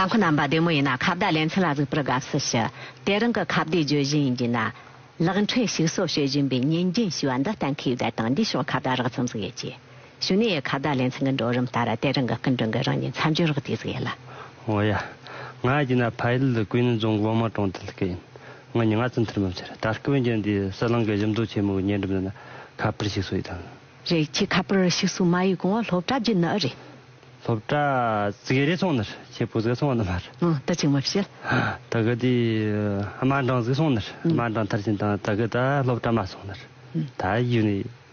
རྟ་མཁོ་རྣམ་པ་བདེ་མོ་ཡིན་ན་ཁ་བརྡ་ལེ་ཚན་ལ་གཟིགས་པར་དགའ་བསུ་ཞུ། དེ་རིང་གི་ཁ་བརྡའི་བརྗོད་གཞི་ཡིན་རྒྱུ་ན། གླགས་འཕྲིན་ཞིག་གསོ་བྱེད་བཞིན་པའི་ཉིན་རྒྱུན་ཞེས་པ་འདི་གཏན་འཁེལ་ཡོད་པ་དང་འདིའི་ཕྱོགས་ཁ་བརྡ་རགས་ཙམ་གཟིགས་ཡོད་ཅེས། ཞུ་ནི་ཡའི་ཁ་བརྡ་ལེ་ཚན་གི་འགྲོ་རིམ་ལྟར་དེ་རང་གི་སྐུ་མགྲོན་གྱི་རང་ཉིད་མཚམས་སྦྱོར་གྱིས་བསྡིགས་ཟིག་ཡལ། ཨོ་ཡ། ང་ཨ་ཅེ་ན་བྷ་ཡིལ་ལི་ཀུའེ་ནི་རྫོང་གི་དབང་མང་གྲོང་རྡལ་གྱི་ཡིན། ང་ཉིང་ང་ཙི་མཐར་མ་ཕྱིར་ད་སྐབས་འོན་ཀྱང་འདིའི་སྲིད་གླིང་གི་གཞི་མདོ་ཆེན་མོའི་ཉེ་འགྲམ་དུ་ན་ཁ་པར་ཞིག་བཟོ་ཡི་དང། རེད་ཁྱི་ཁ་པར་ཞིག་བཟོ་མ་ཡི་གོང་བ་སློབ་གྲྭ་བརྒྱུད་ན་ཨི་རེད། སློབ་གྲྭ་ཙི་གེ་རེ་ཚོང་ནི་རེད་ཁྱི་པོ་ཟིག་ཚོང་བ་ནི་མ་རེད། ཨོ་ད་ཅིག་མ་བྱེད། ད་གི་དེ་དམར་འབྲང་ཟིག་ཚོང་ནི་རེད་དམར་འབྲང་མཐར་ཕྱིན་དང་ད་གི་ད་སློབ་གྲྭ་མ་ཚོང་ནི་རེད་ད་ཡུ་ནི་ཡི།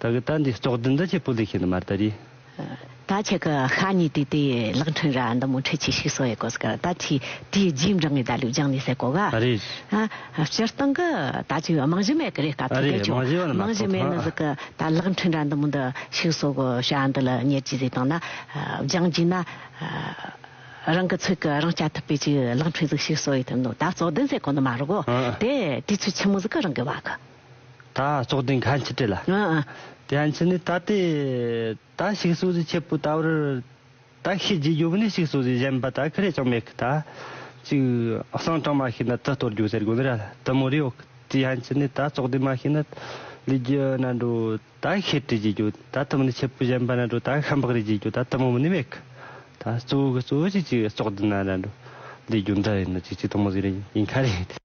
ད་གི་ད་འདི་ལྕོག་དི་འདི་ཆེ་པུ་ལི་ཤི་ནི་མར་ད་རི། ད་ཆེ་གི་ཤ་ཉི་དི་དི་ལག་འཕྲིན་ར་འདི་མོ་ཁྲི་ཆི་ཤིག་སོ་ཡེ་གོ་སི་ཀར་ད་ཆི་དི་ཡི་རྗིས་འབྲང་ངི་ད་ལུས་རྒྱང་ནི་སེ་གོ་ག། ཨ་རེ། ཨ་སྤྱི་སྟང་གི་ད་ཆི་མང་བཞི་མེ་གི་རེ་ཀ་ཐུག་དེ་ཆོ་མང་བཞི་མེ་ནི་ཟི་གི་ད་ལག་འཕྲིན་ར་འདི་མོ་འདི་ཤིག་སོ་གོ་ཤ་འདི་ལི་ཉེར་གྱི་ཟི་དང་ན་རྒྱང་རྒྱི་ན། རང་གི་ཚུག་གི་རང་སྐྱ་ཐུབ་པའི་ཆི་ལག་འཕྲིན་ཟིག་ཤིག་སོ་ཡེ་ཐུབ་ནོ་ད་ལྕོག་དི་ཟེ་གོ་ནི་མ་རུ་གོ་དེ་དི་ཆུ་ཆི་མོ་ཟི་གི་རང་གི་བ་གི། ད་བཙོག་དེ་འགའ་འཆི་བྲེལ། དེ་ཡང་འཆི་ནི་ད་དེ། ད་ཞིག་གསོ་རིག་མཆེད་པོ་ད་བར། ད་ཤི་རྗེས་རྒྱུག་ནི་ཞིག་གསོ་རིག་གཞན་པ་ད་ཁི་རེ་ཅང་མེད་གི་ད། ཅིག། གསང་གྲངས་མ་ཤེས་ན་དུ་གཏོར་རྒྱུག་ཟེར་དགོན་ར་དུ་མོ་རེའོ། དེ་ཡང་འཆི་ནི་ད་བཙོག་དེ་མ་ཤེས་ན། ལུས་ཀྱི་ན་འགྲོ་ད་ཤི་དྲི་རྗེས་རྒྱུག་ད་དུ་མོ་ནི་མཆེད་པོ་གཞན་པ་ན་འགྲོ་ད་ཤ་འབག་རེ་རྗེས་རྒྱུག་ད་དུ་མོ་མི་ནི་མེད་གི་ད། གཙོ་བོ་གི་གཙོ་བོ་ཅིག་ཅིག་བཙོག་དེ་ན་ར་འགྲོ། ལུས་རྒྱུ་འདི་རེ་ནི་ཅིག་ཅིག་དུ་མོ་ཟིག་རེ་ཡིན་ཁ་རེ།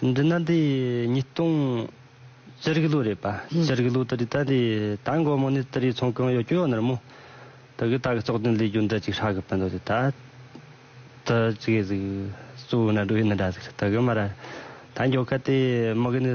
འདི་ན་དེ་ཉིས་སྟོང་ཅར་ཀི་ལོ་རེད་པ་ཅར་ཀི་ལོ་ད་རི་ད་དེ་ད་མགོ་མོ་ནས་ད་རི་ཚོང་གང་ཡོད་ཀྱི་ཡོད་ནར་མོ་ད་གི་ད་གི་ཙོག་དོན་ལས་རྒྱུ་འདི་ཅིག་ཧྲག་གི་པི་འདོད་དེ་ད་ད་ཅི་གི་ཟིག་གཙོ་བོ་ན་འགྲོ་ཡི་ནི་འདྲ་ཟིག་ད་གི་མ་ར་ད་མགྱོགས་ཁ་དེ་མག་གི་ནི།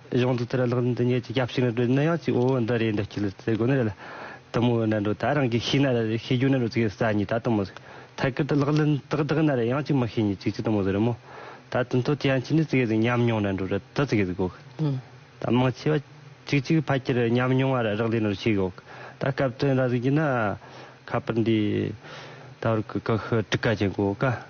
གཞུང་དུ་དེར་གླགས་འདི་ཉིད་ཀྱི་སྐྱབས་ཞིག་ནི་འགྲོ་ནི་ཡང་ཅིག་འོ་འདི་རེད་འདི་སྐྱིད་ཟེར་དགོས་ནི་རེད་ལ། དུ་མོ་འོ་ན་འགྲོ་ད་རང་གིས་ཤེས་ན་རེད་ཤེས་རྒྱུ་ནི་རུ་ཙིག་ཟ་ཉིད་ད་དུ་མོ་ཟེར་ཐད་ཀར་དུ་གླགས་ལན་དག་དག་ན་རེད་ཡང་ཅིག་མི་ཤེས་ཉིད་ཅིག་ཅིག་དུ་མོ་ཟེར་རོ་མོ། ད་དུ་མཐོ་དེ་ཡང་ཅིག་ནི་ཙིག་ཟེར་ཉམས་མྱོང་ན་འགྲོ་རེད་དུ་ཙིག་ཟེར་དགོས། ད་མང་ཆེ་བ་ཅིག་ཅིག་ཕལ་ཆེར་ཉམས་མྱོང་བ་ར་རག་ལས་ནོར་ཤེས་དགོས། ད་སྐབས་དོན་ར་ཟིག་གྱིས་ན་ཁ་པར་འདི་ད་བར་གི་ཀ་ཤི་དྲུག་ཀ་ཅན་དགོས་ཀ།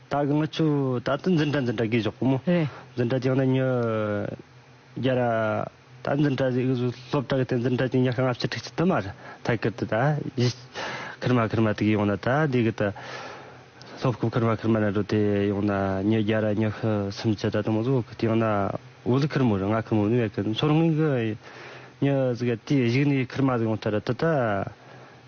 ད་གི་ང་ཆུ་ད་ད་འཛིན་གྲྭ་འཛིན་གྲྭ་གིས་ཞོག་གོ་མོ། རེད། འཛིན་གྲྭ་ཅིག་ང་ད་ཉོ། རྒྱ་ར། ད་འཛིན་གྲྭ་ཅིག་སློབ་གྲྭ་གི་སྟེང་འཛིན་གྲྭ་ཅིག་ཉག་གི་ལྔ་བཅུ་དྲུག་ཅུ་དུ་མ་རེད་ད་གི་ད་ད་ཡི། ཁིར་མ་ཁིར་མ་དེ་གི་ཡོང་ན་ད་དེ་གི་ད། སློབ་ཁུབ་ཁིར་མ་ཁིར་མ་ན་འགྲོ་དེ་ཡོང་ན་ཉོ་རྒྱ་ར་ཉོ་ཤི་སུམ་ཅུ་ད་དུ་མོ་ཟོ་གི་དེ་ཡོང་ན་འུ་ལི་ཁིར་མོ་རེད་ང་ཁིར་མོ་ནི་མེད་གི་མཚོར་ངུས་གི། ཉོ་ཟི་གི་དེ་གཞིག་ནི་ཁིར་མ་ཟི་ཡོང་ཐ་ར་ད་ད།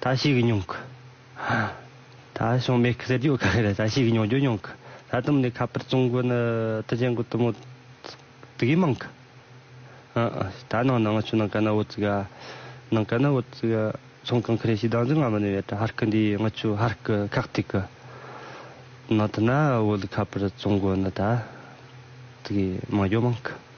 ད་ཞིག་མྱོང་གི། ད་བྱུང་མེད་གི་ཟེར་རྒྱུ་ག་གེ་རེད་ད་ཞིག་མྱོང་རྒྱུ་མྱོང་གི། ད་དུམ་ནི་ཁ་པར་བཙོང་གི་ནི་ད་ཅན་གི་དུ་མོ་དུ་གི་མང་གི། ཧ་ཨ་ད་ནང་ན་ང་ཆུ་ནང་ག་ན་འོ་ཙིག་ཨ། ནང་ག་ན་འོ་ཙིག་ཨ་ཚོང་གང་གི་རེད་ཞིག་དང་ཟིག་ང་མི་ནི་བེ་ད་ཧར་ཀི་འདི་ང་ཆུ་ཧར་ཀི་ཁག་ཐིག་གི། ནང་དུ་ན་འོ་ལི་ཁ་པར་བཙོང་གི་ནི་ད་ཙི་གི་མང་རྒྱུ་མང་གི།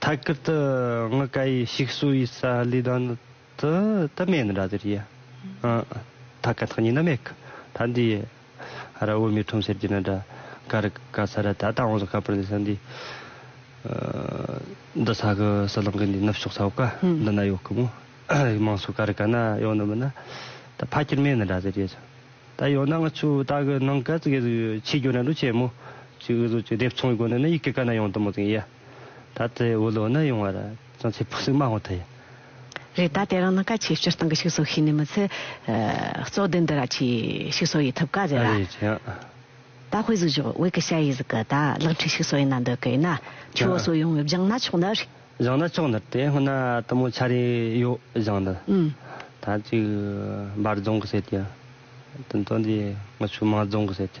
ཐད་ཀར་དུ་ང་སྐད་ཡིག་ཞིག་གསོ་བའི་ས་ལས་ད་ནི་དུ་དུ་མེད་ནི་ར་དེ་རེད་ཡ། ཐ་ག་ཐག་ཉིད་ན་མེད་གི་ད་འདི་ཡ། ར་བོད་མི་ཁྲོམ་ཟེར་གྱི་ན་དྲ་ག་རི་ག་ས་ར་ད་ད་འོང་ས་ག་པར་འདི་ས་འདི། འདི་ས་གི་ས་ལང་གི་འདི་ནུབ་ཕྱོགས་ས་བོད་ག་འདི་ན་ཡོད་གི་མོ། མང་གསུ་ག་རི་ག་ན་ཡོད་ནི་མི་ན་ད་ཕ་ཁྱེར་མེད་ནི་ར་དེ་རེད་ཅིང། ད་ཡོད་ན་ང་ཚོས་ད་གི་ནང་ག་ཙི་གེ་ཟིག་ཆེད་སྐྱོ་ན་འགྲོ་ཆེ་མོ། ཅིག་འུ་ཚོ་ཅིག་སྡེབ་ཚོང་གི་སྒོ་ནས་ནི་ཡི་གེ་ག་ན་ཡོང་དུ་མོ་ཙིང་ཡ། ད་ལྟའི་འུ་ལོ་ནི་ཡོང་བ་ར་ཅུང་ཚེ་ཕུགས་སུ་མ་ཧོ་ཐི། རེད་ད་དེ་རང་ན་ཀ་ཆེ་སྤྱིར་བཏང་གི་ཤིག་བཟོ་ཤེས་ནི་མི་ཚེ། བཙོག་དེ་འདི་ར་ཆེ་ཤིག་བཟོ་ཡི་ཐུབ་ཀ་རེད་ར། རེད་ཅེ། ད་ཧོས་བཟོ་ཞོག་ཝེ་ཀི་ཤ་ཡི་ཟི་ཀི་ད་གླག་འཕྲི་ཤིག་བཟོ་ཡི་ན་འདི་ཀི་ཡི་ན་ཆུ་བོ་སོ་ཡོང་ངེ་བཞང་ན་ཆོག་ནི། བཞང་ན་ཆོག་ནི་དེ་སྔོན་ན་དུ་མོ་ཆ་རེ་ཡོ་བཞང་ནི། ད་ཅིག་འབར་རྫོང་གི་ཟེར་ཏེ། དུན་ཏོ་འདི་ངི་ཆུ་མང་རྫོང་གི་ཟེར་ཏེ།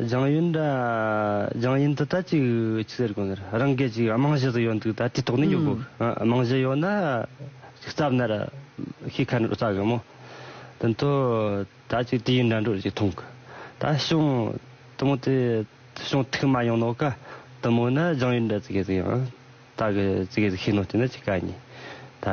སྦྱང་ཡུལ་འདྲ། སྦྱང་ཡུལ་འདི་ལྟ་ཅིག་ཅི་ཟེར་དགོས་འདིར། རང་སྐད་ཅིག་རྨང་གཞི་དུ་ཡོད་འདུག་ད་དེ་དོགས་ནས་ཡོད་དགོས། རྨང་གཞི་ཡོད་ན་རྩབ་ནར་ཤེས་ཁ་ནར་ལྟ་གི་མོ། དོན་དུ་ད་ཅིག་དུས་ཡུན་འདྲ་འགྲོ་ཅིག་ཐུང་གི། ད་བྱུང་དུ་མོ་དེ་བྱུང་ཐུག་མ་ཡོང་ནོ་ཀ། དུ་མོ་ནི་སྦྱང་ཡུལ་འདྲ་ཙི་གེ་ཙི་གི་ཨང། ད་གི་ཙི་གེ་ཙི་ཤི་ནོ་དེ་ནི་ཅི་ག་ཉིས། ད།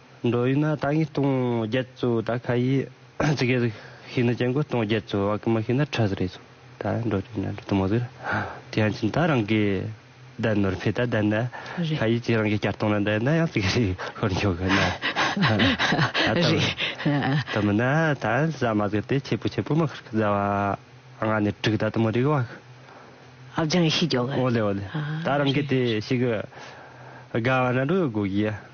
འགྲོ་ཡུལ་ན་ད་ངས་སྟོང་བརྒྱད་བཙོ་ད་ཁ་ཡིས་ཙི་གེ་ཟིག་ཤི་ན་ཅན་གོས་སྟོང་བརྒྱད་བཙོ་བ་ཀི་མ་ཤི་ན་ཁྲ་ཟིག་རེ་བཙོ་ད་འགྲོ་ཡུལ་ན་འགྲོ་དུ་མ་ཟིག་ར་དེ་ཡང་ཅིན་ད་རང་གི་ད་ནོར་འཕེ་ད་ད་ན་ཁ་ཡིས་ཅིན་རང་གི་སྐྱར་སྟོང་ན་ད་ན་ཡང་ཙི་གེ་ཟིག་ཤོར་འགྱོ་གི་ན་དུ་མ་ན་ད་ཟ་མ་ཟིག་དེ་ཆེ་པོ་ཆེ་པོ་མ་ཁིར་ཁི་ཟ་བ་ང་ནས་དྲུག་ད་དུ་མ་རིག་བ་ཁི། ཨབ་ཅང་ཤི་འགྱོ་གི། ཨོ་ལེ་ཨོ་ལེ་ད་རང་གི་དེ་ཤི་གི་དགའ་བ་ན་འགྲོ་ཡོད་དགོ་གི་ཡ།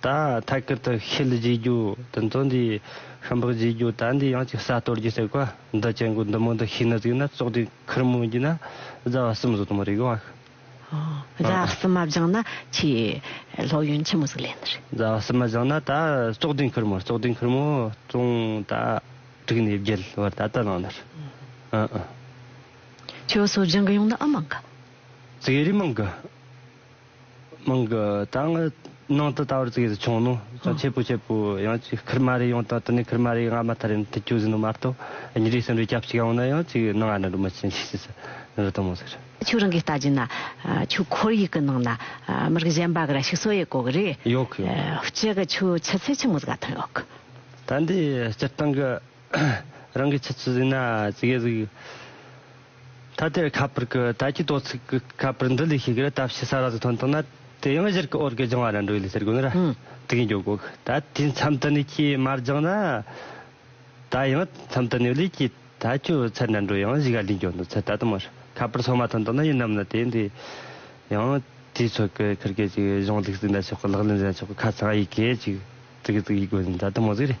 ད་ཐད་ཀར་དུ་ཤེལ་བརྗེ་རྒྱུ་དེ་ཚོ་འདི་ཤམ་བག་བརྗེ་རྒྱུ་ད་འདི་ཡང་ཅིག་ས་གཏོར་རྒྱུ་ཟེར་གོ་འདི་བཅད་མགོ་འདི་མོ་འདི་ཤིག་ན་ཟིག་ན་བཙོག་དེ་ཁུར་མོ་རྒྱུ་ན་རྫ་བ་སིམ་བཟོ་དུ་མོ་རེད་གོ་ཨ། རྫ་བ་སིམ་མ་བཞེངས་ན་ཆེས་ལྷོག་ཡོན་ཆེན་མོ་ཟིག་ལེན་རེད། རྫ་བ་སིམ་མ་བཞེངས་ན་ད་བཙོག་དེ་ཁུར་མོ་བཙོག་དེ་ཁུར་མོ་བཙོང་ད་དྲུག་ནས་བརྒྱད་བར་ད་ད་ལངས་ནར་ཨ། ཁྱོད་སོ་བཞེངས་གི་ཡོང་ན་ཨ་མང་གི། ཟིག་རི་མང་གི། མང་གི་དང། ནང་དུ་ད་བར་ཙི་གེ་ཟི་ཆུང་ནོ། ཅང་ཆེ་པོ་ཆེ་པོ། ཡང་ཅིག་ཁིར་མ་རེ་ཡོང་ད་དུ་ནི་ཁིར་མ་རེ་ཡི་ང་མ་ཐར་ཡིན་ཐི་ཅུ་ཟི་ནུ་མ་རྟོ། ཉི་རིག་སིན་རུ་སྐྱབས་ཅིག་ཡོང་ན་ཡང་ཅིག་ནང་ང་ནི་རུ་མི་ཅི་ཉིག་ཅིག་ཟི་ནི་རུ་དུ་མོ་ཟི་རུ། ཆུ་རང་གི་ལྟ་རྒྱུ་ན། ཆུ་ཁོར་ཡིག་གི་ནང་ན་མིར་གི་གཞན་པ་གི་ར་ཤིག་སོ་ཡེ་གོ་གི་རེད། ཡོག་གི་ཡོག་གི། སྤྱི་གི་ཆུ་ཆུ་ཚེ་ཆུ་མོ་ཟི་ག་ཐོན་ཡོག་གི། ད་འདི་སྤྱིར་བཏང་གི། རང་གི་ཆུ་ཚོད་ཟིན་ན་ཙི་གེ་གཟིགས། ཐ་དད་ཁ་པར་གྱི་ད་ཀྱི་དོ་ཚིགས་ཀྱི་ཁ་པར་འདི་ལས་ཤེས་གི་རེད་ད་ཕྱི་ས་ར་ཟིག་ཐོན་ཐུབ་ན་དེ་ཡང་གཞིར་གི་འོར་གི་སྦྱང་བ་ར་འགྲོ་ཡི་ལས་ཟེར་གི་ཡོད་ན་ར་ཙི་གེ་འགྱོ་གོ་ད་དུས་མཚམས་དུ་ནས་ཁྱི་མ་སྦྱང་ན་ད་ཡང་མཚམས་དུ་ནས་ལས་ཀྱི་ད་ཁྱོ་ཚད་ར་འགྲོ་ཡང་གཞི་ག་ལས་འགྱོ་འདུག་ཚད་ད་དུ་མར་ཁ་པར་སོ་མ་ཐོན་ཐུབ་ན་ཡིན་ནམ་ན་དེ་འདི་ཡང་དུས་ཚོད་གི་ཁུར་གི་ཅིག་གཞུང་ལུགས་ཟིན་ད་ཆོག་གི་ལག་ལེན་ཟིན་ད་ཆོག་གི་ཁ་ཚང་ཡི་གེ་ཅིག་ཙི་གེ་ཙི་གེ་ཡི་གོ་ཟིན་ད་དུ་མོ་ཟིག་རེད།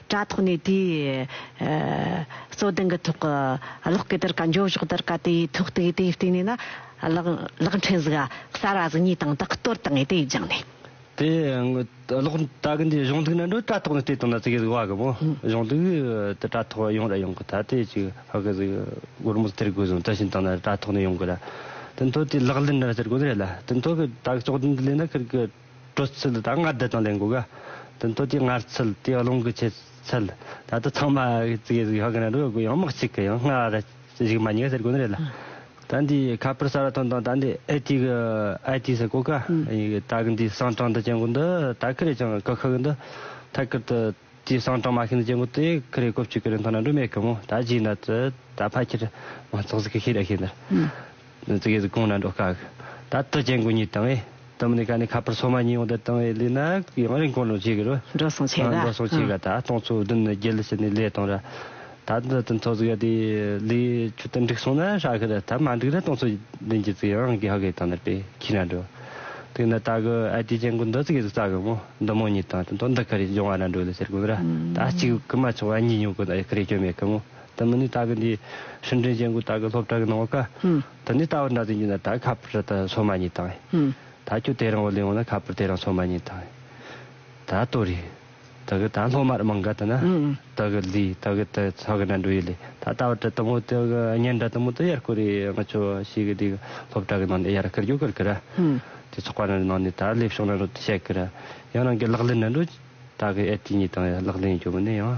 དྲ་ཐོག་ནས་དེའི་རྩོད་གདན་གྱི་ཐོག་གི་གློག་སྐས་དར་ག་འཇོག་གཞུག་དར་ག་དེའི་ཐོག་དེའི་དེའི་སྟེང་ནས་ན་གློག་འཕྲིན་གཟུགས་གསར་བ་གཟུགས་གཉིས་དང་དག་གཏོར་བཏང་ནས་དེ་སྦྱངས་ནས། དེ་གློག་དར་གྱི་འདིའི་གཞུང་ཐིག་ན་འགྲོ་དྲ་ཐོག་ནས་དེ་དང་ན་ཙི་གི་གཟུགས་བྷ་གི་མོ་གཞུང་ཐིག་དེ་དྲ་ཐོག་ཡོང་ར་ཡོང་གི་ད་དེ་ཅིག་བྷ་གི་གཟུགས་སྒོར་མོ་སྟེར་དགོས་བཟུང་དེ་བཞིན་དང་ན་དྲ་ཐོག་ནས་ཡོང་གི་ར་དེ་མཐོ་དེའི་ལག་ལེན་ར་སྟེར་དགོས་ནི་རེད་ལ་དེ་མཐོ་གི་དྲ་གི་ལྕོག་དོན་དེ་ལས་ན་ཁིར་གི། སྤྲོ་ཚུལ་དང་སྔར་བསྡུ་དང་ལེན་གོ། དོན་སྟོད་ཀྱི་སྔར་ཚུལ་དེ་ཀློང་གི་ཕྱེད་ཚུལ། ད་ལྟ་ཚང་མ་གཙིགས་ཡས་ཡོད་ཀྱི་རེད་འདུག་ཡང་མི་གཅིག་གི་ཡང་སྔ་བ་རེད་གཞུག་མ་ཉེས་ཟེར་དགོས་ནི་རེད་ལ། ད་འདི་ཁ་པར་གསར་བ་ཐོན་དང་ད་འདི་ཨེ་ཏི་གི་ཨེ་ཏི་ཟེར་གོ་ག། ད་གི་འདི་གསང་གྲངས་འདི་ཅན་གོ་འདི་ད་ཀི་རེད་ཀྱང་ཀི་ཁག་གི་འདི་ཐད་ཀར་དུ། ཅེས་གསང་དྲང་མ་ཤིན་ཏུ་གཅེར་མགོ་སྟེ་ཀི་རེ་ཀོ་བཅུ་ཀི་རེ་མཐོང་ན་འབྲུ་མེད་ཀི་མོ་ད་ཇི་འདྲ་ཙི་ད་ཕ་ཁྱེར་མ་ཚོགས་ཟིག་ཀི་ཤི་ར་ཤི་འདྲ་ཙི་གི་ཟིག་གོང་ན་འགྲོ་དཀའ་གི་ད་ཏི་གཅེར་མགོ་གཉིས་དང་ཨེ་ཏི་མི་ནི་ཀ་ནི་ཁ་པར་སོ་མ་གཉིས་ཡོང་དེ་དང་ཨེ་ལི་ན་ཡང་རིང་གོང་ནོ་ཇི་གི་རུ་འགྲོ་སོང་ཆེ་ག་འགྲོ་སོང་ཆེ་ག་ད་སྟོང་ཚོ་བདུན་ནི་རྒྱལ་ལི་ཤི་ནི་ལས་དང་ར་ད་ལྟ་དུས་ཚོད་ཚོགས་ཡོད་དུས་ལས་ཆུ་ཏུ་འགྲིག་སོང་ན་ཧྲ་ཧི་ར་ཐབས་མ་འགྲིག་ན་སྟོང་ཚོད་ལེན་གྱི་ཚིག་ཨང་གི་ཧ་གི་དང་ནི་པའི་ཁྱི་ར་འགྲོ། དུས་འདི་ད་གི་ཨ་ཏི་ཅན་གུ་འདི་ཚིག་གི་ཚིག་རྩ་གི་མོ་འདི་མོ་གཉིས་དང་དུས་ཐོག་འདི་ཁི་རེ་འབྱུང་བ་ར་འགྲོ་ལི་ཟེར་གུ་ར་ད་གཅིག་གི་མ་ཆོག་ཨ་གཉིས་ཉུང་གི་ཨེ་ཁི་རེ་ཀྱོ་མེད་གི་མོ་དུ་མི་ནི་ད་གི་འདི་ཧྲིན་ཀྲིན་ཅན་གུ་ད་གི་སློབ་གྲ་གི་ནང་བ་ཀ་དུ་ནི་ད་བར་འདྲ་ཚིག་འཇུག་ན་ད་ཁ་པར་ད་སོ་མ་གཉིས་དང་ད་ཁྱོད་དེ་རང་བ་ལས་འོང་ན་ཁ་པར་དེ་རང་སོ་མ་གཉིས་དང་ད་ལྟོ་རེ། ད་གི་ད་སློབ་མར་མང་ག་དུ་ན་ད་གི་ལི་ད་གི་དུ་ཚ་གི་ན་འགྲོ་ཡི་ལི་ད་ལྟ་བ་དྲི་དུ་མོ་དུ་གི་ཉན་དྲ་དུ་མོ་དུ་ཡར་སྐུ་རི་ང་ཆོ་ཤི་གི་དུ་གི་སློབ་གྲ་གི་ནང་ནས་ཡར་སྐུར་རྒྱུག་གུར་གི་ར་དུ་ཚོགས་པ་ན་ནང་ནས་ད་ལེབ་ཤོང་ན་འགྲོ་དུ་ཤད་གི་ར་ཡང་རང་གི་ལག་ལེན་ན་འགྲོ་ད་གི་ཨེ་ཏི་ཉི་དང་ལག་ལེན་ཡོད་མི་ནི་ཡང།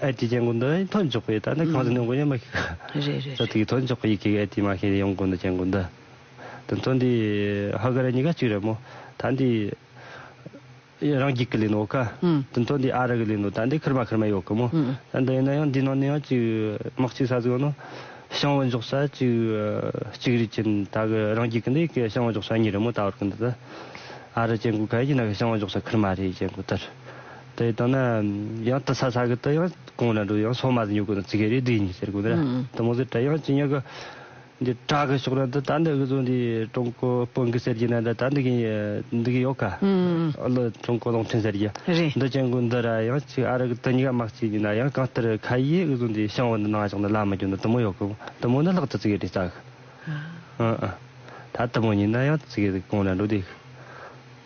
ཨེ་ཏི་རྒྱན་དགོན་འདི་དོན་འཇོག་པའི་ད་ནི་གང་ཟག་ཉུང་དགོན་ཡང་མི་ཤེས། རེད་རེད་རེད། དོན་འཇོག་པའི་ཡི་གེ་ཨེ་ཏི་མ་ཤེས་ནས་ཡོང་དགོན་དུ་རྒྱན་དགོན་འདི། དོན་དོན་འདི་ཧ་ག་རེ་གཉིས་ཀ་གཅིག་རེད་མོ། ད་འདི། རང་རྒྱུད་ཀྱི་ལས་ནོ་ཀ། དོན་དོན་འདི་ཨ་རི་གི་ལས་ནོ་ད་འདི་ཁིར་མ་ཁིར་མ་ཡོད་གི་མོ། ད་འདི་ཡིན་ན་ཡང་འདི་ནང་ནས་ཡང་གཅིག་དམག་གཅིག་ས་ཟིག་ཡོད་ན། ཞང་བོད་འཇོག་ས་གཅིག་གཅིག་རེད་ཅིང་ད་གི་རང་རྒྱུད་ཀྱི་འདི་ཀི་ཞང་བོད་འཇོག་ས་གཉིས་རེད་མོ་ད་བར་གི་འདི་དང། ཨ་རི་རྒྱན་དགོན་ག་ཡིན་ན་ཀི་ཞང་བོད་འཇོག་ས་ཁིར་མ་རེད་རྒྱན་དགོན་དེར། དེ་དང་ན་ཡང་དི་ས་ས་གི་དི་ཡང་གོང་ན་འགྲོ་ཡང་སོ་མ་ཟི་ཉུག་གི་ན་ཙི་གེ་རི་དི་ཉི་ཟེར་གོ་ནེ་ར་དི་མོ་ཟི་ཏྲ་ཡང་ཅི་ཉག་གི་འདི་ཏྲ་གི་ཕྱོགས་ན་དི་ད་འདི་གི་ཟོ་འདི་ཀྲུང་གོ་དཔོན་གི་སེར་གྱི་ན་འདི་ད་འདི་གི་འདི་གི་ཡོག་ག་ལི་ཀྲུང་གོ་གློང་ཕྲན་སེར་གྱི་འདི་ཅན་གུ་འདི་ར་ཡང་ཅི་ཨ་རི་གི་དི་ཉི་ག་མག་ཅི་གི་ན་ཡང་གང་ཏི་རི་ཁ་ཡེ་གི་ཟོ་འདི་ཤང་བུ་འདི་ན་ང་ཅག་འདི་ལ་མི་གྱོ་འདི་དི་མོ་ཡོག་གི་དི་མོ་ནི་ལྷག་ཏུ་ཙི་གེ་རི་ཙག་གི་ཨ་ཨ་ད་དི་མོ་ཉིད་ན་ཡང་ཙི་གེ་གོང་ན་འགྲོ་དེ་གི།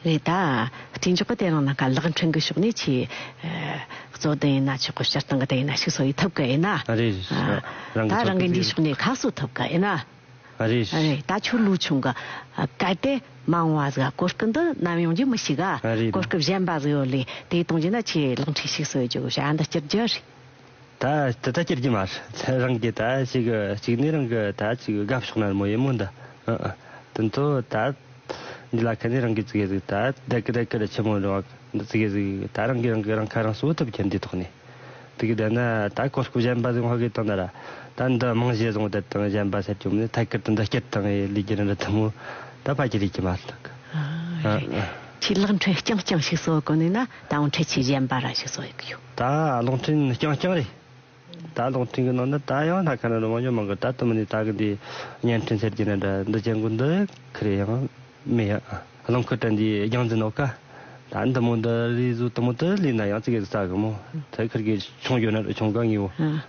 རེད་ད། དྲིན་འཇོག་པ་དེ་རང་ལ་ག་ལག་འཕྲེང་གི་ཕྱོགས་ནས་ཆེས། གཙོ་དོན་ཡིན་ན་ཆོག་གོ་སྤྱིར་བཏང་གི་དོན་ཡིན་ན་ཞིག་སོགས་ཡིན་ཐུབ་ཀི་ཡིན། ད་རང་གི་འདིའི་ཕྱོགས་ནས་ཁག་སོགས་ཐུབ་ཀི་ཡིན། རེད་ད་ཆོས་ལུགས་ཆུང་གི་གལ་ཏེ་མང་བ་ཟིག་གོ་སྐབས་འདི་ནམ་ཡོང་རྒྱུ་མི་ཞིག་གོ་སྐབས་གཞན་པ་ཟིག་ཡོད་ལས་དེ་གཏོང་རྒྱུ་ན་ཆེས་ལག་འཕྲེང་ཞིག་སོགས་ཡོད་རྒྱུ་གོ་བྱ་འདི་སྤྱིར་རྒྱུ་རེད། ད་དེ་ལྟར་ཅེར་གྱི་མ་རེད་རང་གི་ད་ཅིག་གི་གཅིག་ནས་རང་གི་ད་ཅིག་གི་དགའ་ཕྱོགས་ན་མོ་ཡེ་མོ་འདི་ཨ་ཨ་དེ་ཚོ་ད་འདི་ལ་ཁ་ནས་རང་གི་ཙི་གེ་ཟིག་ད་བདེ་གི་བདེ་གི་རེད་ཆེན་མོ་འདྲ་བ་འདི་ཙི་གེ་ཟིག་ད་རང་གི་རང་གི་རང་ཁ་རང་གསོ་ཐུབ་ཀྱི་འདི་ཐོག་ནས་དེ་གི་བདེ་ན་ད་གོ་སྐབས་གཞན་པ་ཟིག་བྷོ་གི་དང་ད་ར་ད་འདི་རྨང་གཞི་བཟང་བདེ་དང་གཞན་པ་སེར་སྐྱོ་མིན་ཐད་ཀར་དུ་འདི་སྐྱིད་དང་ཡེ་ལི་གྱི་རི་འདི་ཐུང་མོ་ད་ཕ་གྱི་རིགས་ཀྱི་མ་རེད་ཨ་ཨ། ཆེས་ལག་འཕྲད་རྐྱང་རྐྱང་ཞིག་བཟོ་དགོས་ནས་ན་ད་འོང་འཕྲད་ཆེས་གཞན་པ་ར་ཞིག་བཟོ་ཡི་གི་ཡོད། ད་གློག་འཕྲིན་རྐྱང་རྐྱང་རེད། ད་གློག་འཕྲིན་གྱི་ནང་ན་ད་ཡང་ལྷ་ཁང་ནས་རུ་མ་ཉོ་མང་གི་ད་དུ་མི་ནས་ད་གི་འདི་བརྙན་འཕྲིན་ཟེར་གྱི་ནི་འདྲ་འདི་ཅན་གུ་འདི་གི་རེད་ཡང་མི་ཡ་རླངས་འཁོར་དྲན་འདིའི་རྒྱང་འཛིན་ནོ་ཀ་ད་འདི་མོ་འདི་རིས་བཟོ་དུ་མོ་དེ་ལུས་ན་ཡང་ཙི་གེ་གི་ཙ་གི་མོ་དེ་ཁིར་གི་ཆུང་གྱོ་ནི་རུ་ཆུང་ག་ངིའོ།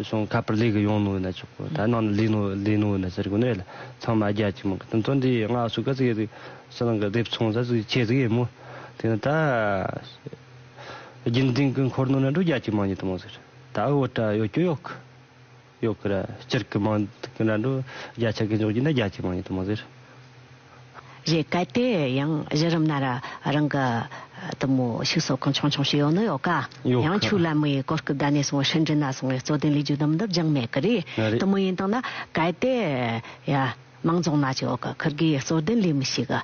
ཞིང་ཁ་པར་ལས་ཀྱི་ཡོང་ནོ་ཡིན་ཆོག་གོ་ད་ནང་ནས་ལས་ནོ་ལས་ནོ་ཡིན་ཟེར་གོ་ནས་ལ་ཚང་མ་རྒྱ་ཆེ་མང་གི་དོན་དོན་དེ་ཡི་སྔགས་སུ་ག་ཚིག་ཡོད་ཟིག་ཕྱི་ནང་གི་སྡེབ་ཚོང་ས་ཚིག་ཁྱེད་ཚིག་ཡིན་མོ་དེ་ནི་ད་རྒྱུན་ལྡན་གི་འཁོར་ནོ་ན་འགྲོ་རྒྱ་ཆེ་མང་ཉིད་དུ་མང་ཟེར་ད་ཨི་བོ་ཏྲ་ཡོད་ཀྱོ་ཡོག་གི་ཡོག་གི་ར་སྤྱིར་གི་མང་གི་ན་འགྲོ་རྒྱ་ཆེ་གི་འཇོག་རྒྱུ་ན་རྒྱ་ཆེ་མང་ཉིད་དུ་མང་ཟེར། རེད་གལ་ཏེ་ཡང་གཞི་རིམ་ན་རང་གི་དུ་མོ་ཕྱུགས་ཟོག་གང་བྱུང་བྱུང་ཞིག་ཡོད་ནི་ཡོད་ག། ཡང་ཕྱུགས་ལ་མི་ཡི་སྐོར་སྐུ་བདག་ནས་བཟུང་བའི་ཧྲིན་ཀྲིན་ན་སོང་བའི་རྩོད་དོན་ལས་རྒྱུ་དུམ་འདི་བརྒྱང་མེད་གི་རེད་དུ་མོ་ཡིན་སྟངས་ན་གལ་ཏེ་མང་རྫོང་ན་ཅིག་འོག་གི་ཁུར་གིས་རྩོད་དོན་ལས་མི་ཞིག་གི་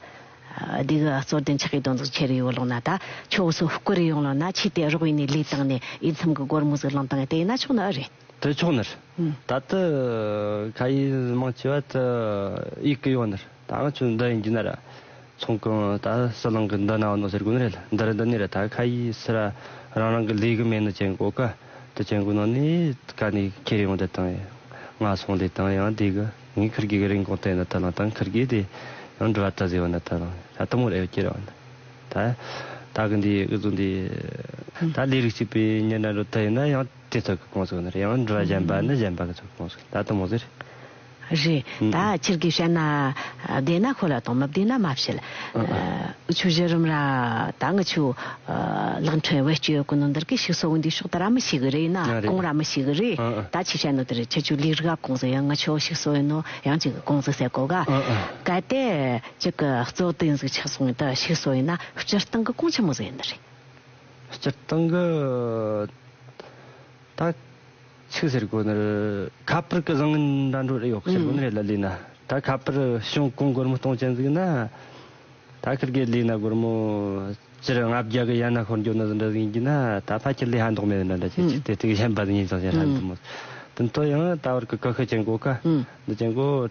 སྡིག་རྩོད་དོན་ཆགས་ཀྱི་དོན་རྫོགས་ཆེ་རུ་ཡོད་ལུགས་ན་ད་ཕྱོགས་སུ་བསྐུར་ཡོང་ལུགས་ན་ཕྱིས་དེ་རོགས་ཡིན་ནས་ལས་བཏང་ནས་དབྱེ་མཚམས་ཀྱི་སྒོར་མོ་ཟིག་བླངས་བཏང་ཡོད་དེ་ཡིན་ན་ཆོག་ནི་ཨ་རེད། དེ་ཕྱོགས་ནས། ད་ལྟ་ཁ་ཡི་མང་ཆེ་བ་དུ་ཡིག་གི་ཡོད་ནས་ད་ང་ཚོས་འདི་ཡིན་གྱི་ནས་ར་ཚོང་གི་ད་སྲིད་གླིང་གི་འདི་ན་ནོ་ཟེར་དགོས་ནི་རེད་འདི་རེད་འདི་ནི་རེད་ད་ཁ་ཡི་སི་ར་རང་རང་གི་ལས་གི་མེད་ནི་ཅན་གོ་ག་དུ་ཅན་གོ་ནོ་ནི་ག་ནི་ཁེ་རི་ཡོང་དེ་དང་ཡང་ང་སོང་དེ་དང་ཡང་དེ་གི་ངའི་ཁུར་གི་གི་རིན་གོང་དེ་ནི་དུ་ལང་དང་ཁུར་གི་དེ་ཡང་འགྲུལ་བ་དུ་ཟེར་བ་ནི་དུ་ལང་ད་དུ་མོ་རེ་བསྐྱེལ་རོགས་ད་ད་གི་འདི་འུ་ཚོ་འདི་ད་ལས་རིགས་གཅིག་པའི་ཉིན་ར་འགྲོ་དུ་ཡིན་ན་ཡང། དེ་ཚོགས་ཀྱི་དགོངས་ཚུལ་ནི་རེད་ཡང་འགྲུལ་བ་གཞན་པ་ནི་གཞན་པ་གི་ཚོགས་ཀྱི་དགོངས་ཚུལ་ད་ལྟ་མོ་ཟེར། རེད་ད་ཁྱེད་ཀྱིས་བཤད་ན་བདེན་ན་གོ་ལ་དང་མི་བདེན་ན་མ་བཤད། ཆུ་བཞི་རིམ་ར་ད་ང་ཆུ་གླིང་ཕྲན་བེད་སྤྱོད་གོ་ནོ་འདིར་གི་ཤིག་སོག་འདི་ཤོག་ད་ར་མི་ཤིག་གི་རེད་ན་གོང་ར་མི་ཤིག་གི་རེད་ད་ཁྱེད་བཤད་ནོ་དེ་རེད་ཁྱེད་ཆུ་ལིག་རི་ག་གོང་ཟེར་ཡང་ང་ཆོག་ཤིག་སོག་ཡིན་ནོ་ཡང་ཅིག་གི་གོང་ཟེར་སེ་གོ་ག་ག་དེ་ཅིག་གི་གཙོ་བདེན་གཟུགས་ཆགས་སོག་ཡིན་ད་ཤིག་སོག་ཡིན་ན་སྤྱིར་བཏང་གི་གོང་ཆེན་མོ་ཟེར་ཡིན་ནི་རེད། སྤྱིར་བཏང་གི་ད་ཚིག་ཟེར་དགོས་ནི་ཁ་པར་གི་བཟང་ངན་འདྲ་འགྲོ་རེ་ཡོད་ཟེར་དགོས་ནི་རེད་ལ་ལུས་ན་ད་ཁ་པར་ཞིང་གོང་སྒོར་མོ་སྟོང་ཅན་བརྩིགས་ན་ད་ཁིར་གའི་ལུས་ན་སྒོར་མོ་སྤྱིར་ལྔ་བརྒྱ་གི་ཡན་ན་ཤོར་འགྱོ་ནི་ཟིན་འདྲ་ཟིན་གྱི་ན་ད་ཕ་ཁྱི་ལུས་ཧ་མདོག་མེད་ནི་འདྲ་ཁྱི་ཁྱི་དེ་དྲུག་ཡན་པ་ཟིན་ཡིན་ཙང་ཞེན་ཧ་འདུག་མོད་དུ་མཐོ་ཡང་ད་བར་གི་ཀི་ཤུ་ཅན་གོ་ཀ་འདི་ཅན་གོ།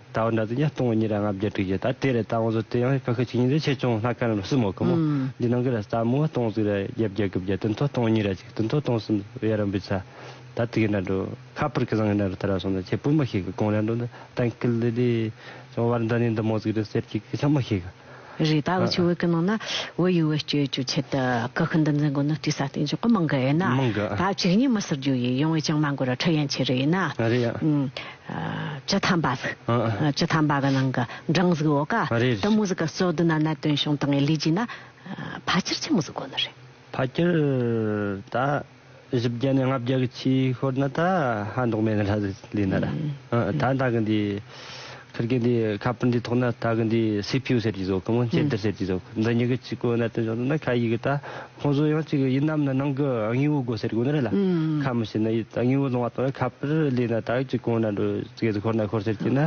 ད་བར་འདྲ་ཚིག་ཉིས་སྟོང་དགུ་གཉིས་ར་ལྔ་བརྒྱད་དྲུག་བཞི་དང་དེ་རེ་ད་ང་ཚོ་དེ་ཡང་ཕ་ཁི་ཆིག་གཉིས་རེ་ཆེ་ཆུང་ལྷག་ཁ་ནང་སྲིད་མོ་ཁི་མོ་འདི་ནང་གི་ར་རྩ་མོ་སྟོང་གཟུགས་ར་བརྒྱད་བརྒྱད་གི་བརྒྱད་དུན་ཐོ་སྟོང་གཉིས་ར་གཅིག་དུན་ཐོ་སྟོང་གསུམ་དབྱར་རམ་བུའི་ཚ་ད་ཐིག་གི་འདྲ་འགྲོ་ཁ་པར་གི་བཟང་གི་འདྲ་འགྲོ་ད་ར་སོང་ད་ཁྱེད་སྤུན་མ་ཞིག་གི་དགོངས་འདྲ་འགྲོ་འདི་གཏན་ཁིལ་ལི་ལི་བྱུང་བར་འདི་ནས་འདི་མོ་ཟིག་རི་ཟེར་གཅིག་གི་ཆང་མོ་ཞིག་གི། རེད་ད་འུ་ཆོས་བོད་ཀྱི་ནང་ན་བོད་ཡུལ་བེད་སྤྱོད་རྒྱུ་ཆེད་དུ་སྐུ་ཤུན་འདི་འཛིན་དགོས་ནི་དུས་ས་སྟེང་འཇུག་གི་མི་འགའ་ཡིན་ན་མི་འགའ་ད་གཅིག་གཉིས་མི་ཟེར་རྒྱུ་ཡིན་ཡོང་བའི་ཅང་མ་འགོར་ར་འཕྲུལ་ཡན་ཆད་རེ་ཡིན་ན་རེད་ཡ་སྤྱི་ཐམ་པ་ཟིག་སྤྱི་ཐམ་པ་གི་ནང་གི་སྦྲང་གཟུགས་འོ་ཀ་རེད་དུ་མོ་ཟིག་གི་གཙོ་དུ་ན་ནད་དོན་བྱུང་དང་ངས་ལུས་བགྱིས་ན་ཕ་སྐྱིར་ཆི་མོ་ཟིག་དགོས་ནི་རེད། ཕ་སྐྱིར་ད། བཞི་བརྒྱ་ནས་ལྔ་བརྒྱ་གི་ཆེས་ཤོར་ན་ད་ཧ་འདོགས་མེད་ན་ལྷ་ཟེར་ལས་ན་ར། ད་ད་གི་འདི་ཁིར་གི་འདི་ཁ་པར་འདི་ཐོག་ན་ད་གི་འདི་སི་ཕིའུ་ཟེར་གྱི་ཟོ་གི་མོ་ཅེ་འདི་ཟེར་གྱི་ཟོ་གི་འདི་གཉིས་གི་ཆིག་གོ་ན་དོན་བྱུང་ན་ཁ་ཡིག་གི་ད་ཁོང་ཟོ་ཡང་ཅིག་ཡིན་ནམ་ན་ནང་གི་དངོས་བོ་གོ་ཟེར་གོ་ན་ར་ལ་ཁ་མི་ཤེས་ན་ཡིད་དངོས་བོ་ལོང་བ་དང་ཁ་པར་ལས་ན་ད་ཅིག་གོ་ན་འགྲོ་ཟེར་གི་ཤོར་ན་ཤོར་ཟེར་གྱི་ན་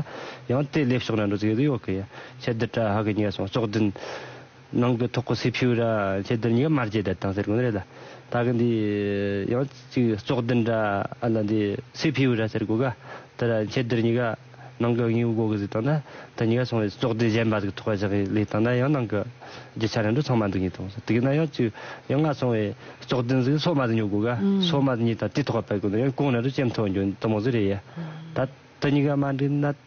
ཡང་དེ་ལས་ཕྱོགས་ན་འགྲོ་ཟེར་གི་ཡོག་གི་ཡ་ཁྱེད་འདི་ཏྲ་ཧ་གི་ཉེ་སོང་ཅོག་བདུན། ནང་གི་ཐོག་གི་སེ་ཕྱུ་ར་ཁྱེད་དེར་ཉིད་ཀ་མར་བྱེད་དེ་དང་ཟེར་གོ་ནི་རེད་ད་ད་གི་འདི་ཡང་གཅིག་བཙོག་འདི་འདྲ་ཨ་ན་འདི་སེ་ཕྱུ་ར་ཟེར་གོ་ག་དེ་ར་ཁྱེད་དེར་ཉིད་ཀ་ནང་གི་དངོས་པོ་གོ་གི་ཟིག་དང་ད་དེ་ཉིད་ཀ་སོང་བས་བཙོག་འདི་གཞན་པ་ཟིག་ཐོག་བཞག་གི་ལས་དང་ད་ཡང་ནང་གི་རྒྱུ་ཆ་རང་འགྲོ་ཚང་མ་འདུག་ཉིད་དང་ཟེར་དེ་གི་ན་ཡང་གཅིག་ཡང་ང་སོང་བས་བཙོག་འདི་ཟིག་སོ་མ་ཟིག་ཉོ་གོ་ག་སོ་མ་ཟིག་ཉིད་ད་དེ་ཐོག་པ་པད་གོ་ནི་ཡང་གོང་རང་འགྲོ་ཅེམ་ཐོག་འགྱོ་འདི་མོ་ཟིག་རེད་ཡ་ད་དེ་ཉིད་ཀ་མ་འདྲི་ན།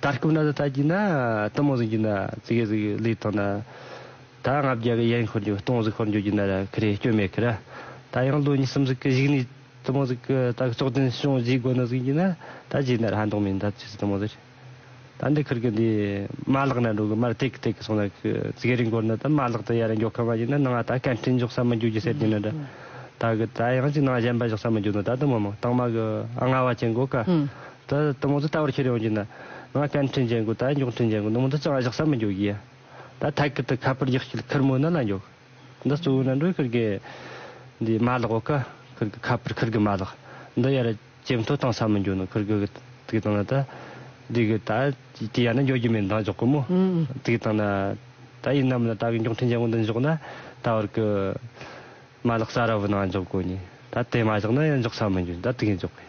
ད་སྐབས་ན་ད་གྱིས་ན་ཏི་མོ་ཟིག་གྱིས་ན་ཙི་གེ་ཟིག་ལིས་ཐོ་ན། ད་ང་བརྒྱ་གི་ཡན་ཁོར་འགྱོ་སྟོང་ཟིག་ཁོར་འགྱོ་གྱིས་ན་ར་ཁི་རེ་སྐྱོ་མེ་ཁི་ར། ད་ཡང་ལོ་གཉིས་གསུམ་ཟིག་གི་གཞིག་ནས་ཏི་མོ་ཟིག་གི་ད་གི་ཙོག་དན་ཤོང་བཞིས་དགོ་ན་ཟིག་གྱིས་ན་ད་གྱིས་ན་ར་ཧ་འདོང་མེ་འདབ་ཅི་ཟིག་ཏི་མོ་ཟིག། ད་འདི་ཁིར་གི་འདི་མ་ལག་ན་འགྲོ་གི་མར་ཏེག་ཏེག་གི་སོང་ན་ཁི་ཙི་གེ་རིང་གོར་ན་ད་མ་ལག་ཏི་ཡ་ར་འགྱོ་ཁ་མ་གྱིས་ན་ནང་ང་ད་ཀན་ཏྲིན་འཇོག་ས་མི་འགྱོ་གྱི་སེར་གྱིས་ན་ར། ད་གི་ད་ཡང་ཅིག་ནང་གཞན་པ་བཞག་ས་མི་འགྱོ་ན་ད་ཏི་མོ་མོ་ཏང་མ་གི་ཨ་ང་བ་ཅན་གོ་ཀ། ད་ད་མོ་ཚོ་ལྟ་བར་ཁྱེར་ཡོང་རྒྱུ་ན། ང་བསྟན་འཕྲིན་ཅན་གོ་ད་མགྱོགས་འཕྲིན་ཅན་གོ་ནུ་མོ་འདི་གཙང་བཞག་ས་མི་འཇོག་གི་ཡ། ད་ཐད་ཀར་དུ་ཁ་པར་རྒྱག་སྐྱིལ་ཁུར་མོ་ན་ལ་འཇོག། འདི་གཙོ་བོའི་ན་འགྲོའི་ཁུར་གི། འདི་མ་ལག་འོ་ཀ། ཁུར་གི་ཁ་པར་ཁུར་གི་མ་ལག། འདི་ཡར་ཇེ་མཐོ་བཏང་ས་མི་འཇོག་ནུ་ཁུར་གི། དགེ་དང་ན་ད། འདི་གི་ད། དེ་ཡར་ན་འཇོག་རྒྱུ་མེད་འདང་འཇོག་གི་མོ། དགེ་དང་ན། ད་ཡིན་ནམ་ལ་ད་གི་མགྱོགས་འཕྲིན་ཅན་གོ་འདི་འཇོག་ན། ད་བར་གི། མ་ལག་ས་ར་བུ་ན་འཇོག་གོ་ནི། ད་དེ་མ་བཞག་ན་ཡར་འཇོག་ས་མི་འཇོག་ད་དགེ་འཇོག་གི་ཡ།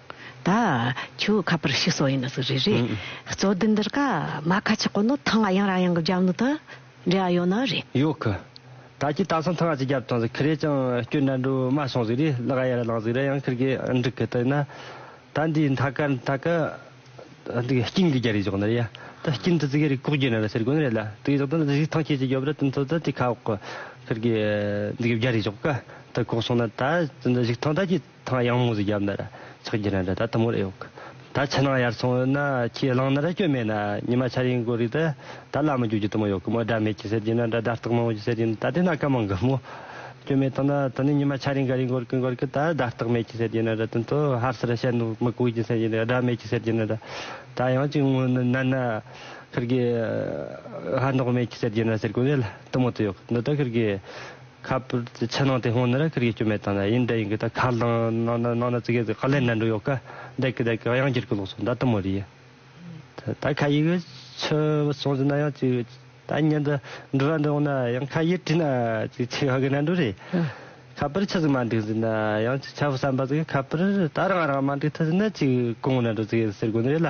ད་ཁྱོད་ཁ་པར་ཤི་སོགས་ཡིན་ན་ཟིག་རེད་རེད་གཙོ་བདུན་འདིར་ཀ་མ་ཁ་ཆེ་ཁོ་ནོ་ཐང་ང་ཡང་རང་ཡང་གི་རྒྱབ་ནུ་ད་འབྲེལ་བ་ཡོད་ནོ་རེད། ཡོད་ཁི། ད་ཁྱི་ད་སང་ཐང་ང་ཆེ་རྒྱབ་ཐང་ཟིག་ཁི་རེད་ཀྱང་ཁྱོད་འདྲ་འགྲོ་མ་སོང་ཟིག་རེད་ལག་གཡས་ར་ལངས་ཟིག་ར་ཡང་ཁིར་གི་འགྲིག་གི་ད་ཡིན་ན་ད་འདི་མཐའ་ཀ་མཐའ་ཀ་འདི་སྐྱིན་གི་རྒྱ་རིག་ཟོག་ནི་རེད་ཡ་ད་སྐྱིན་ད་ཟིག་རིག་ཀོག་རྒྱུ་ནི་ར་ཟེར་དགོས་ནི་རེད་ལ་དེ་ཡིན་ཟོག་ད་ཟིག་ཐང་ཁྱི་ཆེ་རྒྱབ་ར་ཏི་མཐོ་ད་དེ་ཁ་འོག་གི་ཁིར་གི་འདི་གི་རྒྱ་རིག་ཟོག་ཀ་ད་ཀོག་སོང་ན་ད་ཟིག་ཐང་ད་ཁྱི། ཐང་གཡང་མོ་ཟིག་རྒྱབ་ནར་ཚག་གྱི་རན་རེད་ད་ཐུ་མོ་རེ་ཡོག་གི་ད་ཕྱི་ནང་ཡར་ཚོང་ཡོད་ན་ཁྱི་གླང་ནར་སྐྱོད་མེད་ན་ཉི་མ་ཆར་ཡིན་གོ་རིག་ད་ད་ལ་མི་རྒྱུག་གྱི་ཐུ་མོ་ཡོག་གི་མོ་སྒྲ་མེད་ཀྱི་ཟེར་གྱི་ན་འདྲ་སྒྲ་རྟག་མང་བོ་ཀྱི་ཟེར་གྱི་ན་ད་དེ་ན་སྐད་མང་གི་མོ་སྐྱོད་མེད་ཐང་ན་ད་ནི་ཉི་མ་ཆར་ཡིན་ག་རིང་གོར་གི་གོར་གི་ད་སྒྲ་རྟག་མེད་ཀྱི་ཟེར་གྱི་ན་འདྲ་དོན་དུ་ཧར་སེར་བཤད་འདུག་མི་གོ་གྱི་ཟེར་གྱི་ན་སྒྲ་མེད་ཀྱི་ཟེར་གྱི་ན་འདྲ་ད་གཡང་གཅིག་ངུ་ནི་ན་ན་ཁིར་གི་ཧར་འདོག་མེད་ཀྱི་ཟེར་གྱི་ན་ཟེར་གོ་རེ་ལ་ཐུ་མོ་ཏུ་ཡོག་གི་འདི་ད་ཁིར་གི། ཁ་པར་གྱི་ཕྱི་ནང་སྟེང་སྔོན་ནས་ར་ཁུར་གྱི་སྐྱོན་མེད་བཏང་ན་ཡིན་འདི་ཡིན་གི་ད་ཁ་བསླངས་ནང་ནང་ན་ཙི་གེ་ཁ་ལས་ནད་འགྲོ་ཡོད་ག་འདེག་གི་འདེག་གི་གཡང་འཁྱེར་གི་ལོག་སོང་ད་དུ་མོ་རི་ཡི་ད་ཁ་ཡིག་ཆུ་བུ་སོང་ཟིན་ན་ཡང་ཅིག་ད་ཉིན་དུ་འབྲི་ར་འབྲི་འོང་ན་ཡང་ཁ་ཡིག་བྲིས་ན་ཅིག་ཆི་ཧ་གི་ནད་འགྲོ་རེད་ཁ་པར་ཆུ་ཟིག་མ་འགྲིག་ཟིན་ན་ཡང་ཆ་བུ་བསམ་པ་ཟིག་གི་ཁ་པར་ད་རང་རང་མ་འགྲིག་ཐུག་ཟིན་ན་ཅིག་གོང་ནད་འགྲོ་ཙི་གེ་ཟེར་དགོས་ནི་རེད་ལ་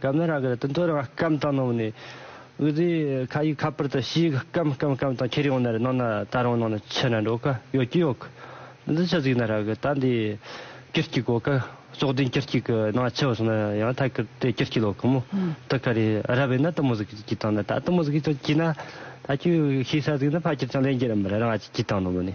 སྐམ་ནི་རང་གི་དུད་འགྲོ་རང་སྐམ་དང་ནང་ནས་འུར་རྡོས་ཁ་ཡིག་ཁ་པར་དང་ཕྱི་ཡིག་སྐམ་སྐམ་སྐམ་དང་ཁྱེར་ཡོང་ནི་རེད་ནང་ན་ད་རང་ནང་ན་ཕྱི་ན་འགྲོ་གི་ཡོད་ཀྱི་ཡོད་གི་འདི་འདྲ་ཆུ་གཟིག་ན་ར་གི་ད་འདི་ཀིར་སྐྱིད་གོ་གི་ཙོག་བདུན་ཀིར་སྐྱིད་ཀི་ནང་ཕྱི་བ་སོང་ན་ཡང་ཐ་ཀིར་དེ་ཀིར་སྐྱིད་ལོག་གི་མོ་དི་ག་རེ་རབ་ཡིན་ན་དུ་མོ་གཟིག་གྱིས་དང་ན་ད་དུ་མོ་གཟིག་གྱིས་ཀྱིས་ན་ད་ཁྱོད་ཤེས་ས་གཟིག་ན་ཕ་ཁྱེར་ཀྱང་ལེན་གྱི་རེད་མ་རེད་རང་ང་གཅིག་གྱིས་དང་ནོ་མོ་ནི་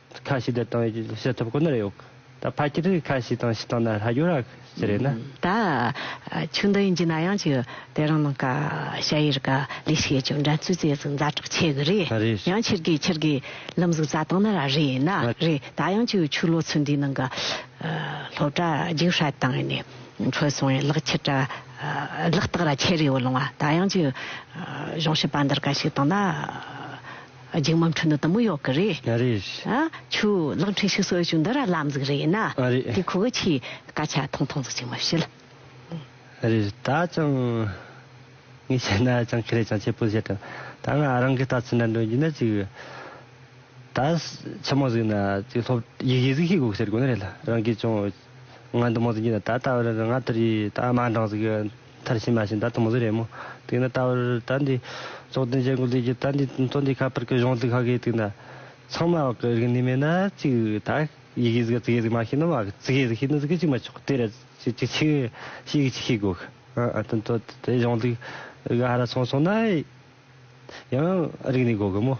ཁ་ཞིག་འདི་དང་ཡོད་ཅེས་བཤད་ཐུབ་ཁོ་ནར་ཡོད། ད་ཕ་ཁྱི་རིགས་ཁ་ཞིག་དང་ཕྱི་ཐང་ན་ལྷ་རྒྱུ་ར་ཞིག་རེད་ན། ད་ཆུ་འདི་ཡིན་གྱི་ན་ཡང་ཆུ་དེ་རང་ནང་ཀ་ཤ་ཡེར་ཀ་ལས་ཤེས་ཀྱང་འགྲན་རྩོད་རྩེད་ཟིང་མཛའ་གྲོགས་ཆེ་གི་རེད་ཡང་ཁྱི་རྒས་ཁྱི་རྒས་ལམ་གཟུགས་རྩྭ་ཐང་ན་ར་རེད་ན་རེད་ད་ཡང་ཆུ་ཆུ་ལོ་ཚོད་འདིའི་ནང་ཀ་ལྷོ་བྲ་རྒྱུག་ཧྲལ་དང་ནས་འཕྲོད་སོང་ཡང་ལག་ཁྱི་བྲ་ལག་སྟག་ར་ཁྱི་རེ་བོ་ལོང་བ་ད་ཡང་ཆུ་གཞུང་ཤི་པ་འདིར་ཀ་ཞིག་དང་ན། རྒྱུགས་མམ་འཕྲོ་འདུ་ལྟ་མོ་ཡོག་གི་རེད། ཡ་རེད། ཆུ་གློག་འཕྲིན་ཤུགས་སོགས་ཅུང་འདི་ར་ལམ་ཟིག་རེད་ཡིན་ན། ཨ་རེད། དེ་ཁོ་བོ་ཆེའི་སྐད་ཆ་ཐུང་ཐུང་ཟིག་ཅིག་མ་བཤད། ཨ་རེད། ད་ཅང་ངས་བཤད་ན་ཅང་ཁེ་རེད་ཅང་ཆེ་པོ་བཤད་དྲན། ད་ང་རང་གི་ལྟ་ཚུལ་འདྲ་འདོན་རྒྱུ་ན་ཅིག། ད་ཆེན་མོ་ཟིག་ན་ཅིག་སློབ་ཡིག་ཡིག་ཟིག་ཤེས་དགོས་ཀྱི་ཟེར་དགོས་ནི་རེད་ལ་རང་གིས་ཅུང། ང་འདི་མོ་ཟིག་གིས་ད་ལྟ་བར་རང་ང་དེར་ཡིས་ད་མ་འགྲངས་ཟིག་གི་ཐར་ཕྱིན་མ་ཕྱིན་ད་དུ་མོ་ཟིག་རེད་མོ་དེ་ན་ད་བར་ད་འདི་ཙོག་དོན་བྱེད་དགོས་ལུས་ཀྱི་ད་འདི་ཙོག་འདི་ཁ་པར་གི་གཞུང་ལུགས་ཁག་གིས་དེ་ན་ཚང་མ་བག་གི་རིག་ནུས་མེད་ན་ཅིག་ད་ཡི་གེ་ཟིག་གི་ཙིག་གེ་ཟིག་མ་ཤེས་ན་བག་གི་ཙིག་གེ་ཟིག་ཤེས་ནི་ཟིག་གི་ཅིག་མ་ཆོག་དེ་ར་ཅིག་ཅིག་ཤིག་ཤིག་ཤིག་ཤིག་དགོས་གི་ཨ་ཨ་ད་ད་དེ་གཞུང་ལུགས་ག་ར་སོང་སོང་ན། ཡང་རིག་ནས་གོ་གི་མོ།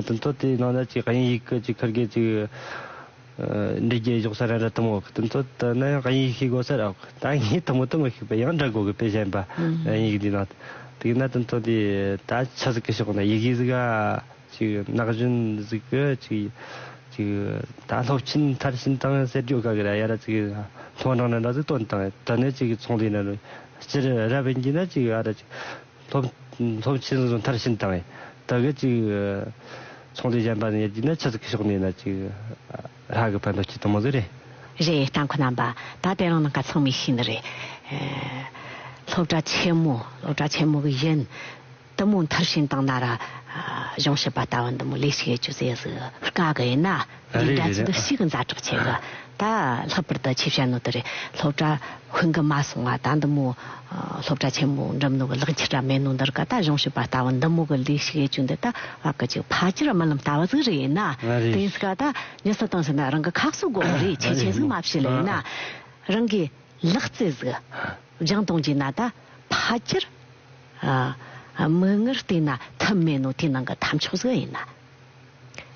དོན་ཐོ་དེ་ནང་ན་ཅིག་དབྱིན་ཡིག་གི་ཅིག་ཁར་གི་ཅིག། འདྲི་རྒྱལ་གཞོག་ས་རན་ར་ཐུ་མོ་ཨོག་དོན་ཐོ་དེ་ནི་དབྱིན་ཡིག་ཤེས་གོ་སར་ཨོག་ད་ངའི་ཐུ་མོ་ཏུ་མི་ཤེས་པ་ཡང་འདྲ་གོ་གི་པེ་གཞན་པ་དབྱིན་ཡིག་འདི་ནང་དུ་གི་ན་དོན་ཐོ་དེ་ད་ཆ་ཟིག་གི་ཤོག་ན་ཡི་གིས་ག་ཅིག་ནག་གཞོན་ཟིག་གི་ཅིག་ཅིག་ད་སློབ་ཆེན་མཐར་ཕྱིན་དང་ཟེར་རྒྱོ་ག་གི་ར་ཡ་ར་ཅིག་སློང་དྲང་ན་འདྲ་ཟིག་དོན་དང་དོན་ནི་ཅིག་ཚོང་དེ་ན་རུ་སྤྱིར་ར་བན་གྱི་ན་ཅིག་ཨ་ར་ཅིག། ཐོབ། ཐོབ་ཆེན་བཟོ་མཐར་ཕྱིན་དང། དག་གི་ཅིག། ཚོང་དུས་གཞན་པ་ནི་ཡ་ཅིག་ན་ཆུ་ཚིགས་ཀྱི་ཕྱོགས་ནས་ན་ཅིག། ལྷ་གི་བོན་དུ་སྐྱེ་དང་མོ་ཟེར་རེད། རེད་རྟ་འཁོ་ན་པ་ད་དེ་རང་ན་ག་ཚང་མི་ཤི་ནི་རེད། སློབ་གྲ་ཆེན་མོ་སློབ་གྲ་ཆེན་མོ་གི་གཞན། དུ་མོ་མཐར་ཕྱིན་དང་ན་ར། གཞུང་ཞབས་པ་ལྟ་བ་འདི་མོ་ལས་ཤིག་ཡོད་ཅུ་ཟེ་ཟི། སྐ་གི་ཡིན་ན། རེད་རེད་རེད་རེད་ཨ། ཨ་ཨ་ཨ། ད་ལྷག་པར་དུ་ཆེ་བཤད་ནོ་དེ་རེད་སློབ་གྲྭ་ཁུང་གི་མ་སོང་བ་ད་འདི་མོ་སློབ་གྲྭ་ཆེན་མོ་འགྲིམ་ནོ་གི་ལག་འཁྱེར་ར་མེད་ནོ་འདིར་ག་ད་གཞུང་ཞིག་པ་ལྟ་བུ་འདི་མོ་གི་ལས་ཤིག་ཡེ་གཅུ་འདི་ད་བ་གི་ཅིག་ཕ་ཅིར་རྨི་ལམ་ལྟ་བ་ཟིག་རེད་ཡིན་ན་དེ་ཡིན་སྲིད་ག་ད་ཉི་ས་བཏང་ཟིན་ན་རང་གི་ཁག་སུ་དགོ་གི་རེད་ཆེ་ཆེ་ཟིག་མ་བཤད་ལ་ཡིན་ན་རང་གི་ལག་རྩེ་ཟིག་སྦྱང་གཏོང་གྱིན་ན་ད་ཕ་ཅིར་མིག་སྔར་བལྟས་ན་ཐུབ་མེད་ནོ་དེ་ནང་གི་ཐབས་མཆོག་ཟིག་ཡིན་ན།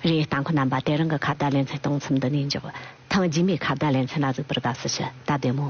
རེད། ལྟ་མཁོ་རྣམ་པ་དེ་རང་གི་ཁ་བརྡ་ལེ་ཚན་སྟོང་ཚུམ་འདི་ནས་འཇོག། ཐེངས་རྗེས་མའི་ཁ་བརྡ་ལེ་ཚན་ལ་གཟིགས་པར་དགའ་བསུ་ཞུ། ད་བདེ་མོ།